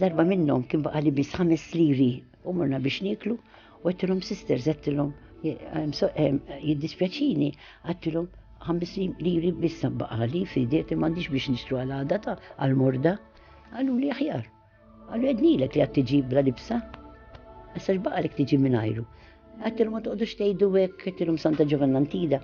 Darba minnhom kien baqa' li biss ħames liri u morna biex nieklu u għettilhom sisters għettilhom jiddispjaċini għettilhom ħames liri biss baqa' li fideti m'għandix biex nixtru għal għada ta' għal morda. Għallu li aħjar. Għallu għednilek li għad tiġi bla libsa. Issa x'baqa' li tiġi mingħajru. Għattilhom ma toqgħodux tgħidu hekk, għattilhom Santa Ġovannantida,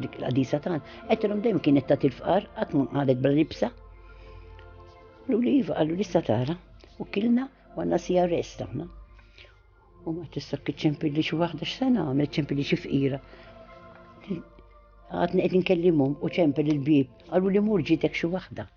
dik il-qadisa tagħna, għattilhom dejjem kienet ta' tilfqar qatt ma qalet bla libsa. Lu li iva qalu lista tara u kilna għandna sija rest aħna. U ma tista' kiċċempi li xi waħda x'sena għamlet ċempi li xi fqira. Għadni qed inkellimhom u ċempi l-bib, qalu li mur ġitek xi waħda.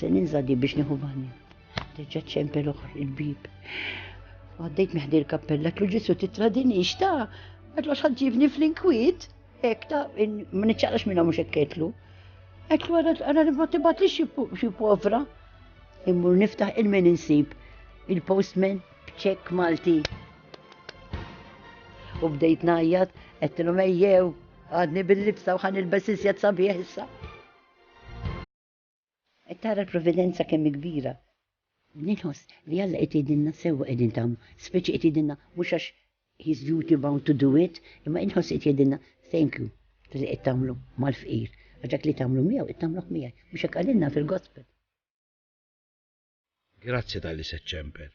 Se ninża' di biex nieħu banju. Reġgħet ċempel oħra il-bib. Għaddejt meħdi l-kappella, tlu ġisu titradinix ta' għadlu għax ħadġibni fl-inkwiet. Ek ta' ma niċċaqlax minna mhux ekketlu. Għetlu għara li ma tibat li xi povra. Immur niftaħ il-min insib il-postman b'ċek Malti. U bdejt najjat, għetlu mejjew, għadni bil-libsa u ħan il-besisjat sabiħ issa. Qed tara l-providenza kemm hi kbira. Ninħoss li Alla qed jgħidilna sewwa qegħdin tagħmlu, speċi qed jgħidilna mhux għax he's duty bound to do it, imma inħoss qed jgħidilna thank you tal-li qed tagħmlu mal-fqir, għax dak li tagħmlu miegħu qed tagħmluh miegħi, mhux hekk qalilna fil-Gospel. Grazzi tal-li se ċċemper.